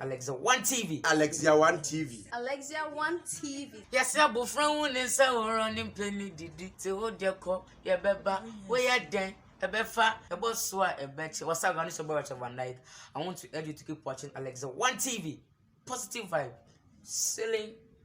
Alexia One TV. Alexia One TV. Alexia One TV. Yɛsɛ abofra hu ne nsa horow ne mpɛ ne didi te wo deɛ kɔ yɛbɛba woyɛ dɛn ɛbɛfa ɛbɔ so a ɛbɛkyɛ wasa agano sɛ bɛwɔ kyɛ van dijk I want to urge you to keep watching Alexia One TV positive vibe selling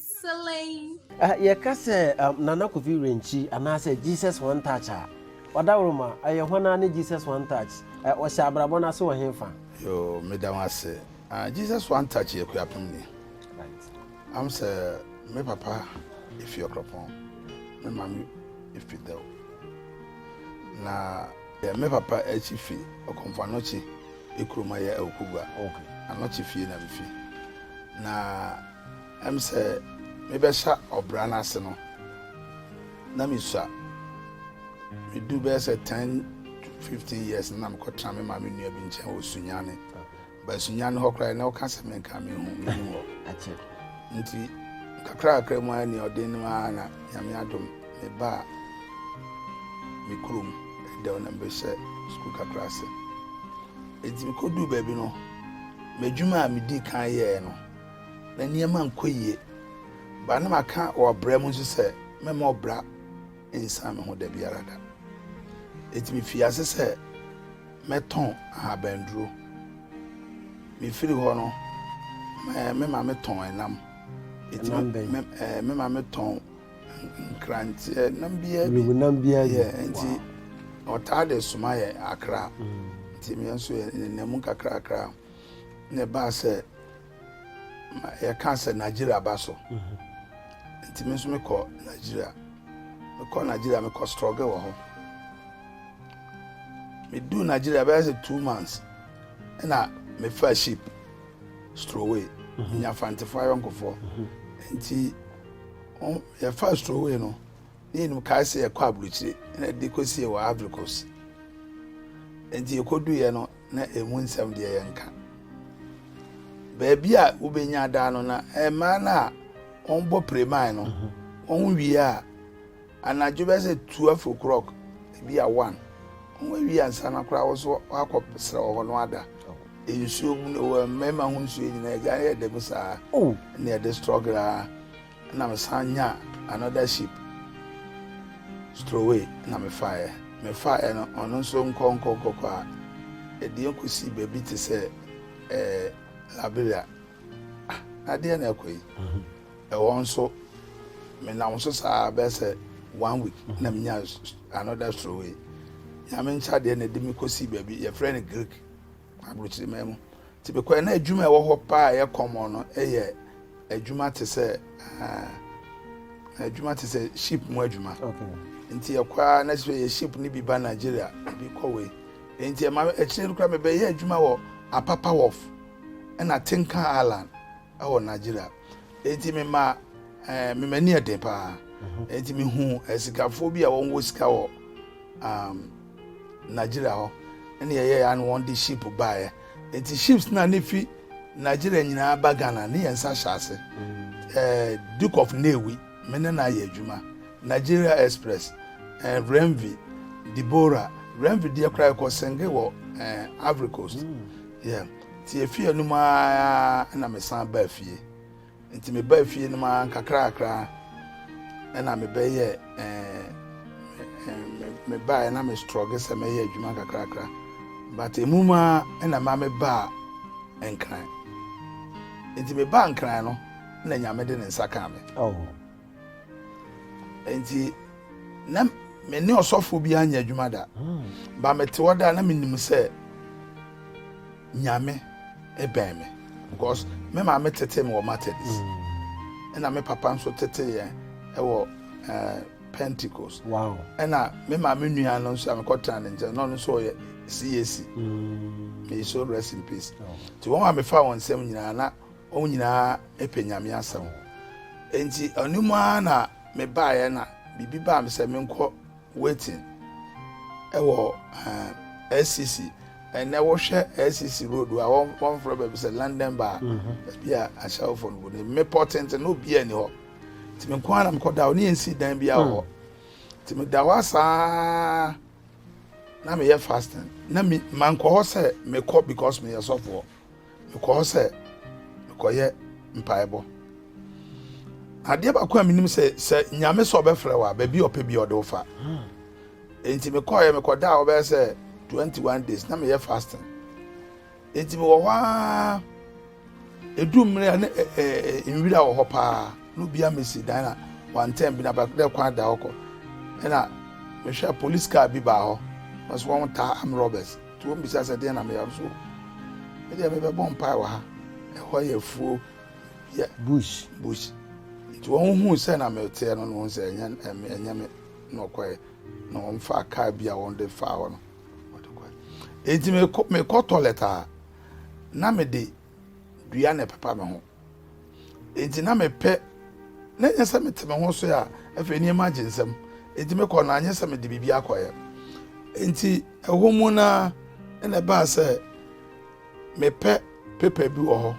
Selay! Yɛka sɛ Nana Kofi Renkyi anaasɛ Jesus One Touch a, ɔdawroma, ɛyɛ hwan ara ne Jesus One Touch? Ɔhyɛ abrabɔ no ase wɔ hefa? Yoo, meda wo ase. Jesus One Touch yɛ Kuapem ni. Am sɛ me papa efi Ɔkrɔpɔn, me maame efi Dɛw. Na me papa akyi fi Ɔkomfo Anɔkye ekurom a ɛyɛ Awukogua. Anɔkye fie na mifi. Na Ɛm sɛ mebɛhyɛ ɔbra no ase no, na misua. Medu bɛyɛ sɛ 10 to 15 years na mekɔtena me maame nua bi nkyɛn wɔ Sunyane. Ba Sunyane hɔ koraa na ɔka sɛ menka mehu mehu hɔ. Nti kakrakakra mu ara ni ɔden no ara na Nyame adom mebaa me kurom dɛw na mebɛhyɛ sukuu kakra ase. Enti mekɔduu baabi no, m'adwuma a medii kan yɛɛ no na nneɛma nkɔ yiye. Bere a na maka wɔ ɔbra mu nso sɛ mɛma ɔbra nsan me ho da biara da. Enti mifii ase sɛ mɛtɔn ahabanduro. Mifiri hɔ no, me maame tɔn ɛnam. Ɛnam bɛn? Me maame tɔn nkranteɛ nam biara bi. Nubunam biara bi. Enti ɔtaa de soma yɛ akra. Mm. Nti mmea nso yɛ nenam mu kakrakra. Na ɛbaa sɛ yɛka sɛ Nigeria ba so nti me nso mekɔ Nigeria mekɔ Nigeria mekɔ strɔge wɔ hɔ meduu Nigeria bɛyɛ sɛ two months ɛna mefa ship stroway mhm. nya fantefoɔ ayɔnkofoɔ mhm. nti yɛfa stroway no ne yɛnim kae sɛ yɛkɔ aburokyire ɛna de kɔsie wɔ Ivory Coast nti yɛkɔduiɛ no na emu nsɛm deɛ yɛnka. Baabi a wobɛnya daa no na mmaa no a wɔbɔ preman no mhm. wɔn wie a anadwo bɛ sɛ twelve o'clock ebi a one wɔn awie ansa na koraa wɔ so wakɔ srɛ wɔ hɔ no ada oh. nsuo mu wɔ mmarima ho nsuo nyinaa agya yɛ dɛm saa oh. na ɛde struggle a. na me san nyaa another ship stroway na me faeɛ me faeɛ no ɔno nso nkɔ nkɔ nkɔ kɔ a ɛdeɛ kɔsi baabi te sɛ ɛɛ eh, Liberia ah, adeɛ na ɛkɔ yi mhm. ɛwɔ nso menam so saa bɛɛ sɛ one week mhm. na menya another stroway nyame nkyɛ adeɛ na ɛde me kɔsi baabi yɛfrɛ no Greek Aburokyiriman mu tebekwa na adwuma a ɛwɔ hɔ paa a ɛyɛ kɔmmɔn no yɛ adwuma te sɛ ah, adwuma te sɛ ship mu adwuma nti ɛkɔ a na sɛ yɛ ship no bi ba nigeria bi kɔ wei nti ɛma akyire no kora mebɛyɛ adwuma wɔ apapa wharf ɛna tinkan island ɛwɔ nigeria nti mema eh, memani ɛden paa mhm. nti mehu asikafoɔ eh, bi a wɔwɔ sika wɔ um, Nigeria hɔ ne yɛyɛɛ a na wɔn de ship baeɛ nti ships na ne fi Nigeria nyinaa ba Ghana ne yɛn nsa hyɛ ase eh, Duke of Nnewi me ne na ayɛ adwuma Nigeria Express eh, Renvi Deborah Renvi deɛ koraa ɛkɔ senge wɔ eh, Ivory Coast mm. yeah. ti efi anum aa na mesan baa fie Enti mebaa fie no mu ara nkakrakra na mebɛyɛ mebaeɛ na me strɔge sɛ mɛyɛ adwuma nkakrakra but emu mu ara na maa mebaa nkran nti mebaa nkran no na nyame de ne nsa kaa me oh. Enti na me ne ɔsɔfo bi anyɛ adwuma da. Ba mete hɔ da na menim sɛ Nyame bɛn me because me maame tete me wɔ Methodist ɛna me papa nso tete yɛn ɛwɔ ɛɛ eh, Pentecost. Wow. Ɛna me maame nua no nso a mekɔtena ne nkyɛn na ɔno nso ɔyɛ CAC. Mm. May so rest in peace. Nti wɔn a mefa wɔn nsɛm nyinaa na Wɔn nyinaa pɛ Nyame asɛm. Enti ɛno mu ara na mebaeɛ na biribi baa me sɛ menkɔ waiting wɔ SCC. Ɛnɛ wohwɛ SCC road a wɔmfrɛ baabi sɛ London bar mhm. baabi a ahyɛwofoɔ no gu no mmepɔ tenten na obiara ni hɔ nti me nko ara na mekɔda hɔ ne yɛnsii dan bi wɔ hɔ hmm. nti meda hɔ asaa na meyɛ fasting na mankɔ hɔ sɛ mekɔ because meyɛ sɔfoɔ Mekɔ hɔ sɛ mekɔyɛ mpaebɔ. Adeɛ baako a menim sɛ sɛ Nyame sɛ ɔbɛfrɛ wo a baabi a ɔpɛ bi ɔde wo fa. Enti mekɔɔyɛ mekɔda a wɔbɛyɛ sɛ 21 days na meyɛ fasting. Enti mewɔ hɔ ara edu mmere a ne nwira wɔ hɔ paa no bia mesi dan na wantɛn bi na bɛdɛ kwan da hɔ kɔ. Ɛna mehwɛ police car bi baa hɔ. Wɔsɛ wɔn taa am robbers. Nti wɔn bisa sɛ deɛn na meyɛ nso me deɛ mebɛbɔ mpae wɔ ha ɛhɔ yɛ afuo yɛ bush bush nti wɔn hu sɛ na meteɛ no na wɔn sɛ ɛnyɛ ɛnyɛ me na ɔkɔɛ na wɔn fa kaa bi a wɔn de fa hɔ no wɔde kɔɛ eti mekɔ mekɔ tɔlɛt a na mede dua na ɛpepa me ho. Enti na mepɛ na ɛnyɛ sɛ mete me ho so a afei nneɛma agye nsam. Enti mekɔ no anyɛ sɛ mede biribi akɔyɛ. Enti ɛhɔ mu no ara na ɛbaa sɛ mepɛ pepa bi wɔ hɔ.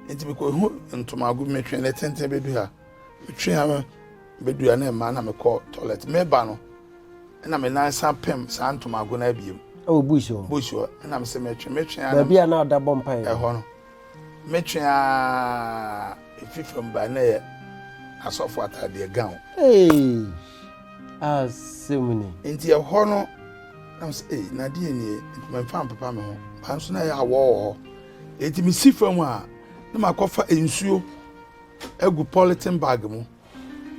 Enti mekɔhu ntomago bi metwe ne tenten bɛdu ha. Metwe ha bɛdu ha na ɛma na mekɔ toilet. Meba no na me nan san pem saa ntomago no abiem. Ɛwɔ bush hɔ. Bush hɔ. Ɛna mesɛ metwe metwe a. Baabi a na ɔda bɔ mpaeɛ. Ɛhɔ no. Metwe aa efi fam ba na ɛyɛ asɔfo ataadeɛ gown. Eesh asɛm ni. Nti ɛhɔ no na mo sɛ ee nadeɛ nie nti mɛmfa mpepa me ho ba nso na ɛyɛ awɔ wɔ hɔ eti mesi fam a na makɔfa nsuo agu polythene bag mu.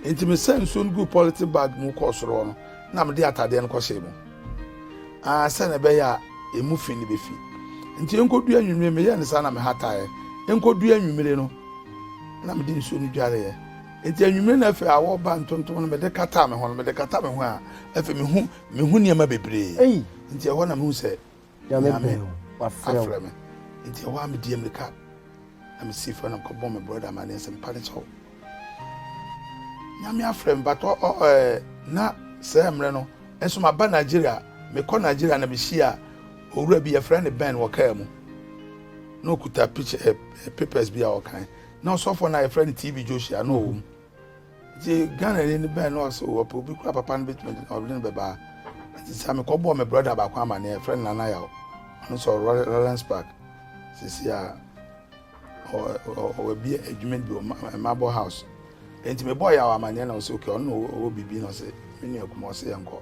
Enti mesaa nsuo no guu pɔlete bag mu kɔɔ soro hɔ no na mede atadeɛ no kɔhyɛɛ mu aa sɛnea ɛbɛyɛ a emu fi no bɛfi. Enti ɛnkɔduu anwummere meyɛɛ no saa na mehataeɛ. Ɛnkɔduu anwummere no na mede nsuo no dwareeɛ. Enti anwummere no afei awɔ ba ntontom no mede kataa me ho no mede kata me ho a afei mehu mehu nneɛma bebree. Enti ɛhɔ na mehu sɛ Nyame pɛ, wafrɛ me. Nti ɛhɔ a me dii amirika na me sii fam na mekɔ bɔ me brɔda amaneɛ sɛ mpa ne kyɛw. Nyame afrɛ me batɔ ɔ ɛɛ eh, na sɛ mmerɛ no nso maba Nigeria mekɔ Nigeria na mehyia owura bi yɛfrɛ ne Ben wɔ kaa mu na ɔkuta picture eh, eh, papers bi a ɔkan na ɔsɔfoɔ no a yɛfrɛ no TV Joshua na ɔwɔ mu. Ntsi Ghanani no bɛɛn na ɔse oh ɔpɛ obi kor a papa no betumi dze ɔdze no bɛba ha. Ntsi tsia me kɔbɔɔ me brɔda baako amanee a yɛfrɛ no Nana Yaw, ɔno so ɔwɔ Rollens Park sesei a, ɔwɔ ɔwɔ bi edwuma bi wɔ Marble House. Ntsi mebɔɔ Yaw amanee na ɔse okay ɔno na ɔwɔ biribi na ɔse me nua kuma ɔse yɛnkɔ.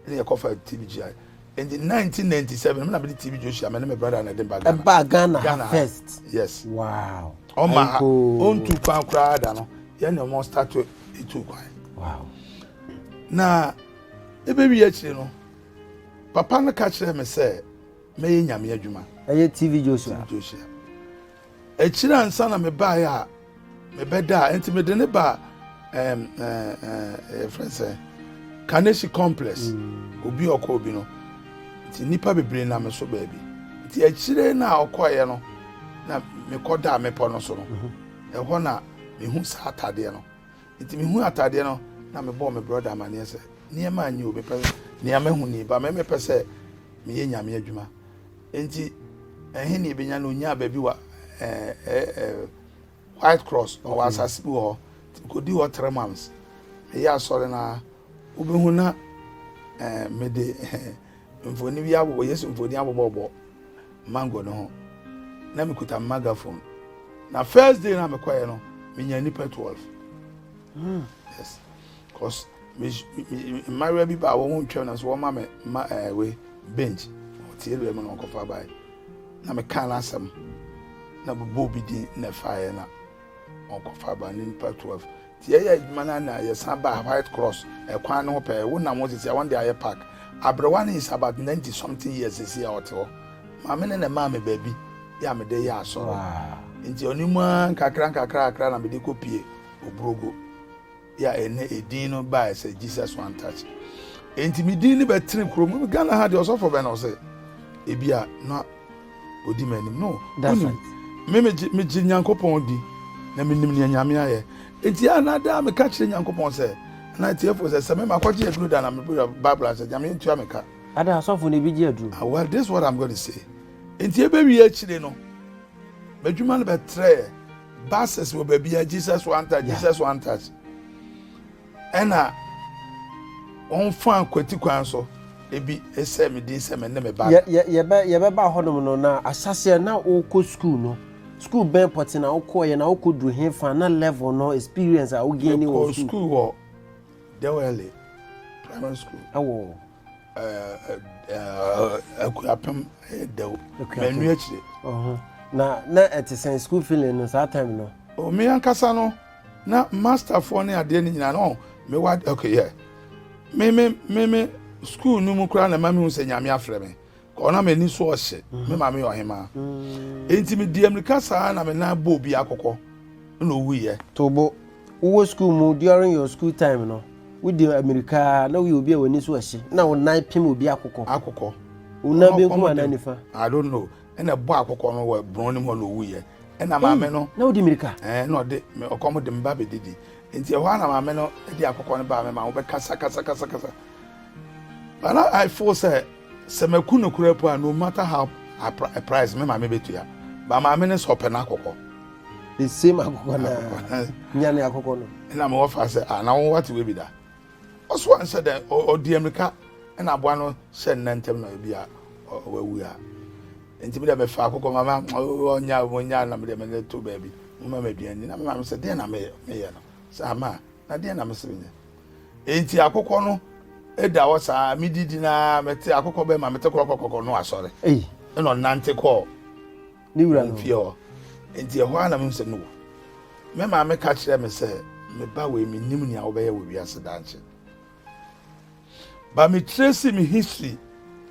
Nna yɛkɔfaa TBGI. Nti 1997 me na mede TV Joshua me ne me brother na ɛde ba Ghana. Ɛba Ghana, Ghana first. Yes. Wow. Ɔma ha ɔntu kwan koraa da no yɛn na wɔn start etu kwan. Wow. Na ebewie akyire no papa no ka kyerɛ me sɛ mɛyɛ nyame adwuma. Ɛyɛ TV Joshua. TV Joshua. Akyiri ansa na mebaeɛ a mebɛdaa nti mede ne baa ɛm ɛɛ yɛfrɛ sɛ Kaneshi complex mm. obi ɔkɔ obi no nti nnipa bebree nam so baabi nti akyire no a ɔkɔeɛ no na mekɔdaa mepɔ no so no mhm. ɛhɔ na mehu saa atadeɛ no nti mehu atadeɛ no na mebɔɔ me brɔda amaneɛ sɛ nneɛma anyi o mepɛ nea mahu ni ba mɛmɛpɛ sɛ meyɛ nyame adwuma Enti, ɛhe na yebenya no? Onyaa baabi wɔ White Cross, ɔwɔ asase bi wɔ hɔ. Kodi hɔ three months. Ɛyɛ asɔre no a, wobɛhu na mede mfoni bi abobɔ, Yesu mfoni abobɔbɔ mango no ho. Na mekuta megaphone. Na first day na mekɔɛ no, menya nipa 12. Hmm. Yes. Cos me mmayewa bi baa wɔn ho ntwam na so wɔma me ma ɛɛ eh, wei bench ɔte awia mu na ɔkɔfa bae na mekaa n'asɛm na bobɔ obi din na ɛfaeɛ na ɔkɔfa bae ne nipa 12 nti yɛyɛ adwuma no na yɛsan baa white cross ɛkwan no ho pɛɛ wonam hɔ sisi a wɔn de ayɛ park aberewa no is about ninety something years sisi a ɔte hɔ maame ne na ɛmaa me baabi yɛ a mede yɛ asɔre nti ɔne mu a nkakra nkakra kakra na mede kɔ pie oburogo yɛ a ɛnɛ edin no bae sɛ jesus one touch enti me din no bɛtene kurom mu ghana ha deɛ ɔsɔfo bɛn na ɔsɛ ebi a na odi m'anim no wonim me megye megye nyankopɔn di na menim nea nyame ayɛ enti a na daa meka kyerɛ nyankopɔn sɛ na atiefo sɛ sɛ me makɔgye aduro da na mebɛyɛ bible ahyɛ nyame ntua meka ada asɔfo no ebi gye aduro ah, well this is what i'm going to say enti ɛbɛwie akyire no M'adwuma no bɛtrɛɛ buses wɔ baabi a Jesus one touch, Jesus one touch. Ɛna wɔn fa kwati kwan so ebi sɛ me din sɛ me ne me ba. Yɛbɛba hɔnom no na ahyɛseɛ na wokɔ sukuu no sukuu bɛn pɔte na wokɔɔyɛ na wokɔduru he fa na level no experience a wogaini wɔ sukuu wɔ Dewele primary school ɛwɔ akuapem ɛyɛ dɛw manu akyire na na ɛte sɛn school feeling no saa time no oh, me ankasa no na masterfoɔ ne adeɛ no nyinaa no mewa okay yeah me me me me school no mu koraa na ma mehu sɛ nyame afrɛ me Kɔ na m'ani so ɔhye, me maame yɛ ɔhemaa. Enti medii amirika saa na me nan bɔɔ obi akokɔ na owuiɛ. Tobo, wowɔ sukuu mu during your school time no, wodi amirika na woyɛ obi a w'ani so ɔhye na wo nan pem obi akokɔ. Akokɔ. Wo nan benkum anaa nifa? I don't know. Ɛna ɛbɔ akokɔ no wɔ borɔn no mu hɔ na owuiɛ. Ɛna maame no. Na wodi mirika? Ɛɛ na ɔde ɔkɔm de me ba bɛdidi. Enti ɛhɔ ara na maame no de akokɔ no baa me ma wobɛkasa kasa kasa kasa. But now I feel sɛ. Sɛ maku no koraa mpo a, no matter how a price me maame betua. Ba maame no sɛ ɔpɛ n'akokɔ. The same akokɔ na nya ne akokɔ no. Ɛna me wɔfa sɛ ah na wɔn wate wei bi da. Ɔso anhyɛ dɛ ɔdi amirika ɛna aboa no hyɛ nna ntɛm na ebi a wawu a. Nti me dɛ me fa akokɔ ma ma ɔnya ɔnya na me dɛ me to baabi. Mo ma me aduane na me maame sɛ deɛ na me yɛ no. Sɛ ama na deɛ na me sɛ me nyɛ. Enti akokɔ no da hɔ saa, mididi no ara, mete akokɔ bɛn ma mete kɔkɔkɔkɔ no asɔre. Ɛna ɔnante kɔɔ ne wura no fie hɔ. Enti ɛhɔ ara na mehu sɛ no wu. Me maame ka kyerɛɛ me sɛ, Me ba wei, mennim nea wobɛyɛ wɔ wiase daakye. Ba metrace me history.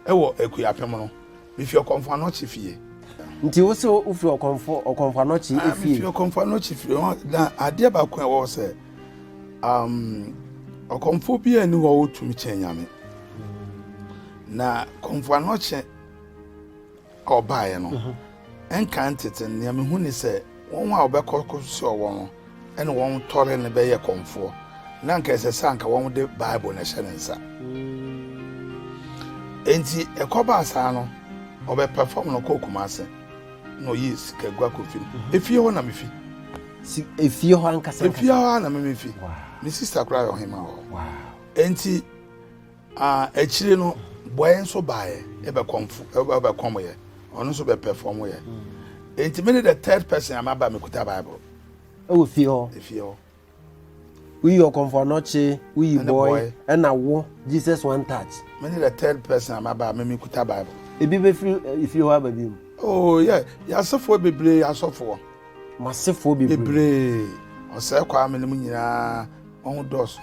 wɔ Akuapem no, mifi Ɔkɔmfo Anokye fie. Nti wo se wo firi Ɔkɔmfo Ɔkɔmfo Anokye fie? Ah, mi firi Ɔkɔmfo Anokye fie. Na adeɛ baako a ɛwɔ sɛ, um, Ɔkɔmfo bi a ni hɔ wotumi kyɛn Nyame. Na Kɔmfo Anokye ɔbaeɛ no, nkan tete nea mehu ne sɛ wɔn a wɔbɛkɔ kɔsoa wɔn no ne wɔn tɔre no bɛyɛ kɔmfoɔ, na anka ɛsɛ sɛ anka wɔde Bible na ɛhyɛ ne nsa. Enti ɛkɔbaa saa no, ɔbɛpɛfam no kɔɔ Kumase na ɔyii sikagua kɔfi no. Efie hɔ na mefi. Si efie hɔ ankasa. Efie hɔ na memefi. Me sista koraa yɛ ɔhema hɔ. Enti A Akyire no bɔeɛ nso baeɛ, ɛbɛkɔmfo, ɛbɛkɔmyɛ, ɔno nso bɛpɛfɔmyɛ. Enti mene the third person a maba mekuta Bible. Ɛwɔ fie hɔ. Efie hɔ. Woyi ɔkɔmfo anɔkye, woyi Ɛne bɔe, bɔe. ɛna wo, Jesus one touch. Mene the third person a maba a me mekuta Bible. Ebi bɛfiri eh, efie hɔ aba bio. Oh, yeah. Yɛasefoɔ bebree asɔfoɔ. Masefoɔ bebree. Bebree. Ɔsɛe kwa a menim nyinaa, wɔn dɔɔso.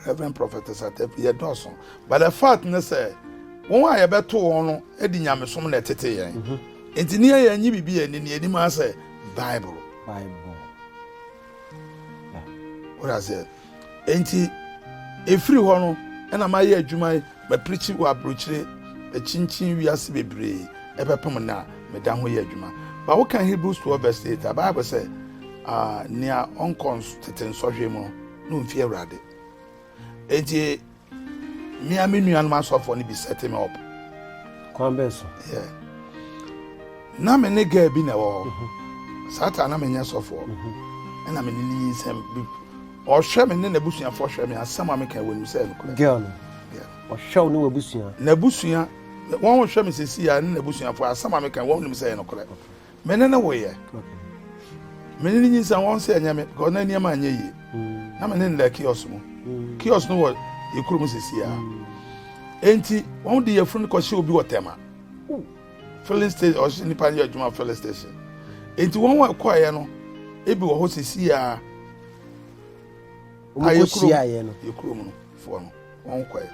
Rev. Prophetess Atepi, Yɛdɔɔso, but the fact ne sɛ wɔn a yɛbɛto wɔn no de nyamesom na ɛtete yɛn. Mm-hmm. Enti ne yɛn nye biribi yɛn ni anim ara sɛ Bible. Bible. Wɔda sɛ, enti efiri hɔ no ɛna mayɛ adwuma yi, mapirikyi wɔ aburokyire, akyinkyin wiase bebree ɛbɛpem na meda ho yɛ adwuma. Ba woka Hebrews 12 verse 8 a, Bible sɛ, ah, nea ɔnkɔ tete nsɔhwɛ mu no, no mfi Awurade. Enti me a me nuanom asɔfoɔ no bi set me up. Kwan bɛn so? Yeah. Na me ne girl bi na ɛwɔ hɔ. Mhm. Saa ta na menyɛ sɔfoɔ. Mhm. Ɛna me ne ne nyinsɛm bi. Ɔhwɛ me ne n'abusuafoɔ hwɛ me asɛm a meka wɔ nim sɛ ɛnokorɛ. Girl no. Ɔhwɛ wo ne w'abusua. N'abusua wɔn hwɛ me sisi a ne n'abusuafoɔ asɛm a meka wɔn nim sɛ ɛnokorɛ. Me ne no woeɛ. Me ne no nyinsɛn wɔn sɛ ɛnyɛ me because na nneɛma anyɛ yie. Mm. Na me ne no da kiosk mu. Mm. Kiosk no wɔ yɛ kuro mu sisi a. Mm. Enti wɔn de yɛfunu no kɔhyɛ obi wɔ tɛma. Filling station ɔhyɛ nipa yɛ adwuma filling station. Enti wɔn a ɛkɔeɛ no ebi wɔ hɔ sisi a. Wɔn kɔ hyia yɛ no. Yɛ kuro mu no foɔ no wɔn kɔɛ.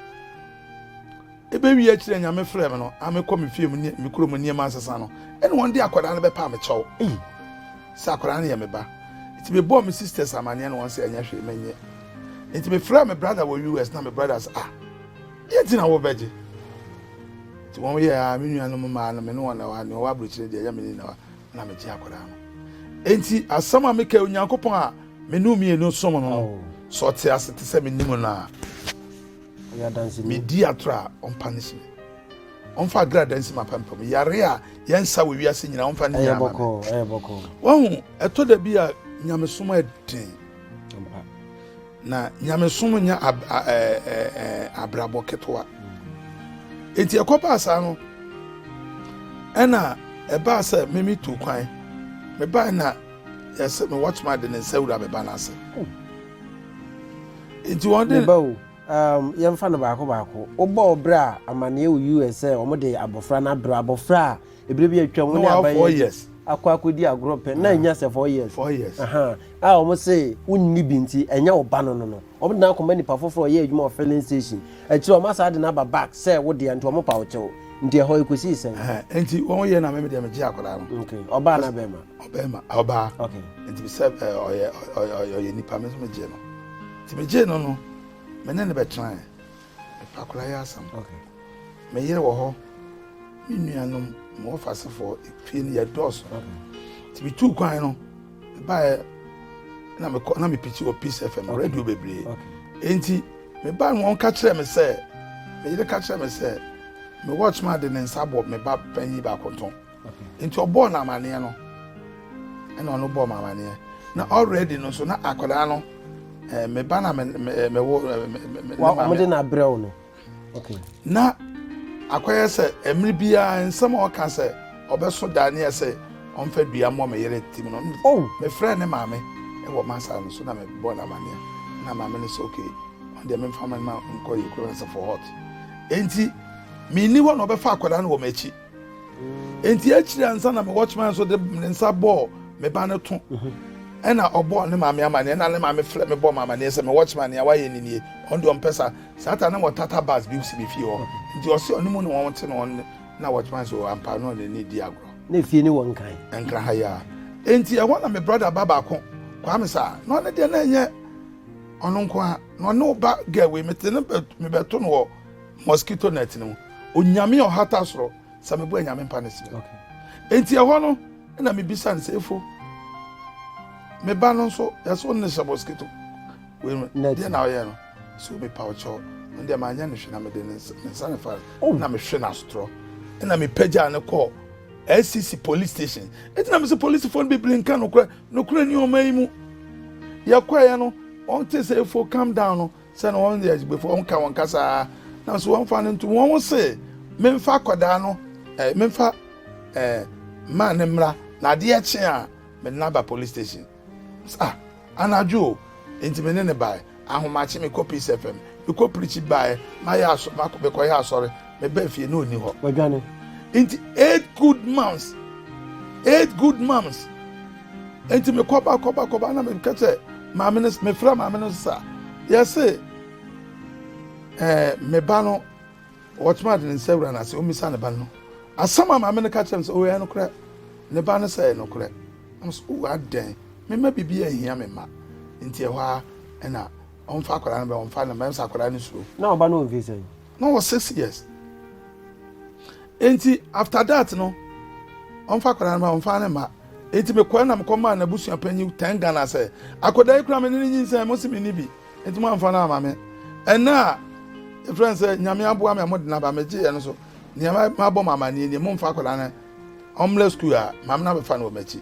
Ebewie akyiri a Nyame frɛɛ me no, a mekɔ me fie mu ne me kurom nneɛma nsesa no, ɛnna wɔn de akwadaa no bɛpaa me kyɛw. Ei! Sɛ akwadaa no yɛ me ba! Enti mebɔɔ me sisters amanneɛ ne wɔn sɛ ɛnyɛ hwee, mennye. Enti mefrɛɛ me brada wɔ US na me brada sɛ, Ah, deɛ nti na wobɛgye? Enti wɔn yɛɛ a me nuanom mmaa no me ne wɔn na ɛwɔ a, nea ɔwɔ aburokyire deɛ ɛyɛ me ne na ɛwɔ a, na megye akwadaa no. Enti asɛm a mekae Onyankopɔn a me ne wo mmienu som no no, sɛ ɔte ase te sɛ mennim no a, Ɔyɛ adanseni. Medi atoro a, ɔmpa no si me. Ɔmfa agradaa nsi m'apampam. Yare a yɛnsa wɔ wiase nyinaa, ɔmfa no nyinaa ma me. Ɛyɛ bɔkɔɔ. Wahu, ɛtɔ da bi a nyamesom yɛ den. Na nyamesom nyɛ abrabɔ ketewa. Enti ɛkɔbaa saa no, ɛna ɛbaa sɛ mimi tu kwan. Mebae na yɛsɛ me wɔtoma de ne nsa wura me ba no ase. Nti wɔn de. Meba o, um, yɛmfa no baako baako. Wobɔ ɔbrɛ a amanneɛ wɔ US sɛ wɔn de abɔfra no abrɛ abɔfra a ebire bi atwa mu ne aban yɛ akɔ akɔdi agorɔ pɛ na anya sɛ four years. Four years. Aha, a wɔn se wonni bi nti ɛnyɛ wo ba no no no. Wɔn de no akɔma nipa foforɔ ɔyɛ adwuma wɔ filling station. Akyire wɔn asaa de no aba back sɛ wo deɛ nti wɔn pa wo kyɛw. Nti ɛhɔ ekosii sɛn? Nti wɔn yɛ na mɛmɛ deɛ megye akwadaa no. Okay, ɔbaa na bɛrima. ɔbɛrima ɔbaa nti sɛ ɔyɛ ɔyɛ ɔyɛ nipa mi nso mi gye no nti mi gye no no mi ne ne bɛ tena yɛ efa akora yɛ asɛm mi yere wɔ hɔ mi nuanom mi wɔ fasefoɔ efie no yɛ dɔɔso nti mi tu kwan no mi ba yɛ na mi kɔ na mi piti wɔ peace fm radio bebree nti mi ba no wɔn ka kyerɛ mi sɛ mi yere ka kyerɛ mi sɛ mi watchman de ne nsa bɔ mi ba panyin baako tɔn. nti ɔbɔɔ no amaneɛ no ɛna ɔno bɔɔ me amaneɛ na already no nso na akwadaa no eh, me ba na me me eh, me wo eh, me me me wa maame- ɔmo de na abrɛ wo no okay na akɔyɛ sɛ mmiri biara nsɛm a ɔka sɛ ɔbɛso da ne yɛ sɛ ɔmfa dua mmɔ me yere tim no Oh. mefrɛ ne maame wɔ masa no so na mebɔ no amaneɛ na maame no sɛ ok ɔdeɛ memfa ma no ma nkɔ yɛ kuro no sɛ for hot enti menni hɔ na ɔbɛfa akwadaa no wɔ m'akyi nti akyiri ansa na me watchman nso de ne nsa bɔɔ me ba no to ɛna ɔbɔɔ ne maame amaneɛ ɛna ne maame frɛ me bɔɔ me amaneɛ sɛ me watchman nea wayɛ ne nie ɔno deɛ ɔmpɛ sa saa ta na wɔtata bus bi si me fie hɔ nti ɔse ɔne mu ne wɔn te no ɔne na watchman so ampa no ɔne ne di agorɔ na fie ne wɔn kan nkra ha yɛ a nti ɛhɔ na me brother ba baako kwaa me saa na ɔne deɛ na ɛnyɛ ɔno nko a na ɔne ɔba gɛwe mete ne mebɛto no wɔ mosquito net no onyame ɔhata soro sɛ mebɔ anyame mpa ne serɛ enti ɛhɔ no na mebisa no sɛ efo me ba no nso yɛsɛ wo ne hyɛ mosquito deɛ na ɔyɛ no sɛ omepa ɔkyɛw no deɛ manyɛ no hwe na mede ne nsa ne fa oh. na mehwe no asotorɔ na mepagyaa no kɔɔ acc police station ɛti na mesɛ policefoɔ no bebree nka nokorɛ nokorɛ ni ɔma yi mu yɛkɔɛɛ no ɔnte sɛ efo calm down no sɛ na wɔyɛ agyibefo, wɔka wɔn kasa ara, nanso wɔmfa no ntom. Wɔn se, memfa akwadaa no, eh, memfa eh, mmaa no mmra, na adeɛ kye a, mede no aba police station. Ah, anadwo o, nti me ne ne bae. Ahomakye me kɔ Peace FM, me kɔ pirikyi bae, mayɛ asɔ, mekɔyɛ asɔre, meba fie na ɔni hɔ. Wadwane. Nti eight good months, eight good months. Enti me kɔ ba kɔ ba kɔ ba na me kɛ sɛ maame no me frɛ maame no sisa yɛ se ɛɛ me ba no wɔtuma de ne nsa wura n'ase omi sa ne ba no asɛm a maame no ka kyerɛ me sɛ oyɛ no korɛ ne ba no sɛ ɛyɛ no korɛ ɛmo so owa oh, dɛn me ma bibi ɛhia me ma nti ɛhɔ a ɛna ɔnfa akwadaa no bɛ ɔnfa no mɛ nsa akwadaa no suro. na ɔba no ɔnfi sɛn. na ɔwɔ six years enti after that no ɔmfa akwadaa no ma ɔmfa ne mma enti mekɔɛ na mekɔ maa n'abusua panyin ten ghana sɛ akwadaa yi kura me ne ne nyinsɛn mo si me ni bi enti mo amfa no ama me ɛnna a efirɛ sɛ nyame aboa me a mo de naba me gye yɛ no so nneɛma ma bɔ mo amaneɛ nie mo mfa akwadaa no ɔmlɛ sukuu a maame no abɛfa no wɔ m'akyi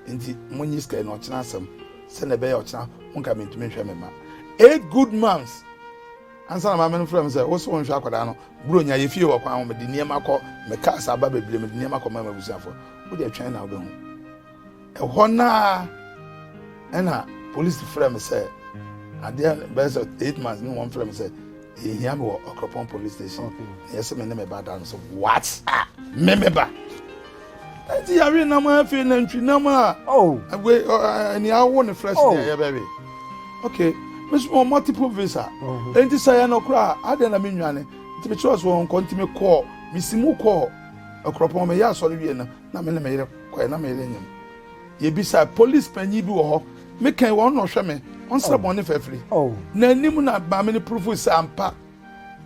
nti mo nyi sika yi na ɔkyena asɛm sɛ na ɛbɛyɛ ɔkyena mo nka mentumi nhwɛ me ma eight good months Ansa na maame no frɛɛ me sɛ, Wo se wonhwɛ akwadaa no? Buronya, yɛ fie wɔ kwan ho, mede nneɛma kɔ, me cars aba bebree, mede nneɛma kɔma m'abusuafo. Wo deɛ twɛn na wobɛhu. Ɛhɔ no ara ɛna polisi frɛ me sɛ, adeɛ bɛyɛ sɛ eight months ne wɔn frɛ me sɛ, yɛhia me wɔ Ɔkropɔn police station, na yɛsɛ me ne me ba da no so. What? Ah, me me ba! Eti yɛwe nam a afei nantwi nam a. Oh. Agwe ɛni awo ne fresh oh. deɛ yɛbɛwe. Okay. Mesu wɔn multiple visa. Mm-hmm. Enti sɛ yɛn no koraa adeɛ na mi nwane. Nti mi kyerɛ so wɔn nkɔ nti mi kɔɔ mi si mu kɔɔ ɛkorɔpɔn mi yɛ asɔre wie no na mi ne mi yere kɔɛ na mi yere nyɛ mu. Yɛbisa police panyin bi wɔ hɔ. Me kɛn wɔn na ɔhwɛ me. Ɔnsrɛ bɔn ne fɛfiri. Na anim na maame ne purufu sɛ ampa.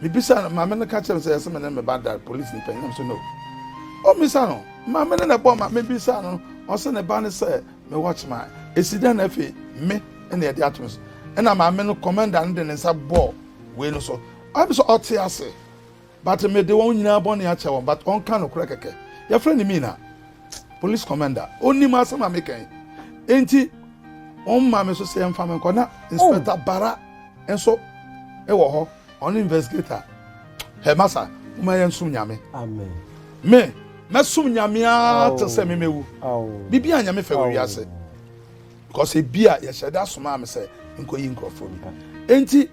Mibisaa no, maame no ka kyerɛɛ me sɛ ɛsɛ me ne me ba da. Polisini panyin no sɛ, No. Ommisa no. Maame no na ɛbɔɔ ma mibisaa no, ɔse ne ba ne sɛ me watchman. Esi dɛn na afei me na yɛde ato me so? Ɛna maame no, commander no de ne nsa bɔɔ wei no so. Ɔyɛ me sɛ ɔte ase, but mede wɔn nyinaa bɔne akyɛ wɔn, but ɔnka nokorɛ kɛkɛ. Yɛfrɛ no Mina. police commander onim asɛm a meka yi enti wɔn maa me so sɛ yɛmfa me nkɔ na inspector oh. bara nso wɔ hɔ ɔne investigator hɛmasa wɔn ayɛ nsom nyame me mɛsom nyame ara te sɛ memɛwu biribi a nyame fɛ wɔ wiase because ebi a yɛhyɛ da somaa me sɛ nkɔyi nkurɔfoɔ bi enti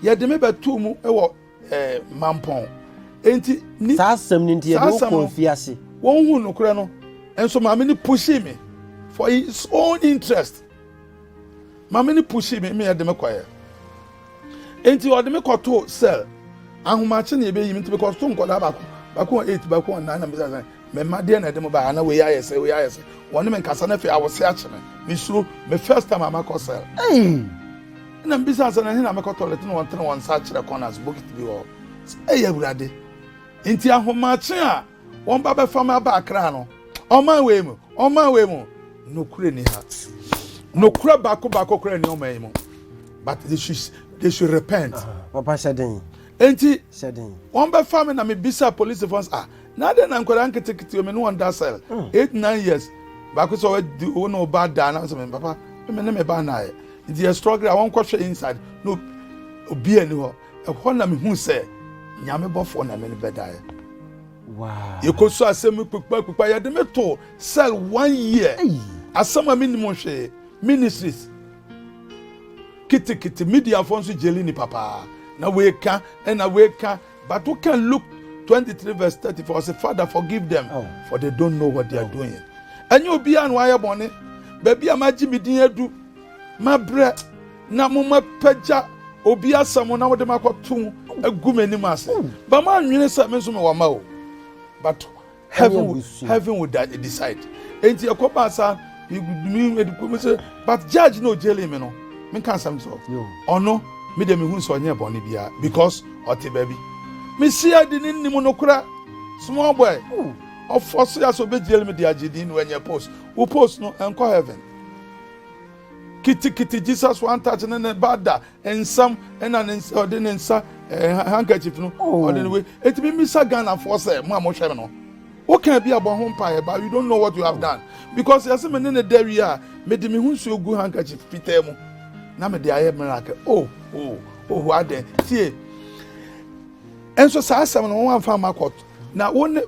yɛde me bɛtoo mu wɔ eh, mampɔn. Enti ni. Saa asɛm no nti, yɛde wo kɔɔ afiase. Wɔn hu nokorɛ no, nso maame no pushii me for his own interest. Maame no pushii me, mmea de me kɔɛ. Enti ɔde me kɔtoo cell. Ahomakye na ebeyi me nti mekɔto nkɔdaa baako baako wɔ eight baako wɔ nine na mbisa sɛ mɛma deɛ na ɛde mo ba ha na wei ayɛ sɛ wei ayɛ sɛ wɔne me nkasa na afei awɔse akye me mesuro me first time amakɔ cell. Hey. Ɛnna mibisaa sɛ, 'Na ɛhe na mɛkɔ tɔlɛt? Ɛnna wɔtenee wɔn nsa kyerɛɛ kɔn ase, bokiti bi wɔ hɔ. Sɛ ɛyɛ Awurade nti, ahomakye a wɔba bɛfa me aba Akra no, ɔman wei mu, ɔman wei mu, nokorɛ ni ha. Nokorɛ baako baako koraa ni ɔman yi mu. But they should, they should repent. Papa hyɛ den. Enti wɔbɛfa me na mebisa policefoɔ sɛ, ah, Na adɛn na nkwadaa nketenkete me ne wɔn da sɛl hmm. eight nine years baako sɛ ɔdi wo ne ɔba da na sɛ me papa me ne me ba na ayɛ nti yɛ struggle a wɔn kɔhwɛ inside na obi ani hɔ ɛhɔ na mehu sɛ nyame bɔfoɔ na me ne bɛda yɛ yɛkɔ so asɛm kpekpa kpekpa yɛde me to sɛl one year asɛm a menim hwee ministries kitikiti mediafoɔ nso gyeli nipa paa na wei ka ɛna wei ka But wo kan Luke twenty three verse thirty four ɔsi father forgive them oh. for they don't know what they are oh. doing. Ɛnyɛ obiara na wayɛ bɔne. Baabi a magye me din adu, mabrɛ na mo mapagya obi asɛm na wode makɔto agu m'anim ase. Ba ma nwene sɛ me nso mewɔ ma o. But heaven would heaven would decide eti ɛkɔ ba sa mi edi ko mi sɛ but judge no jailing mi no mi ka nsɛm sɔ ɔno mi de mi hu sɛ ɔnyɛ bɔnne bia because ɔte baabi mi si ɛdi ne nim no kura small boy ɔfɔ so yasɔ bɛ jail mi di agye di no ɛnyɛ post wo post no ɛnkɔ heaven kitikiti jesus one touch ne ne ba da nsam ɛna ne nsa ɔde ne nsa ɛɛ handkerchief no ɔde ne wei etimi misa ghanafoɔ sɛ mo a mo hwɛ mi no wokan bi abɔ ho mpaeɛ ba you don't know what you have done because yɛsɛ me ne ne da wie a me de me ho nsuo gu handkerchief fitaa mu na me de ayɛ miracle oh oh oh adɛn tie nso saa asɛm no wɔn anfa ma kɔt na wɔn ne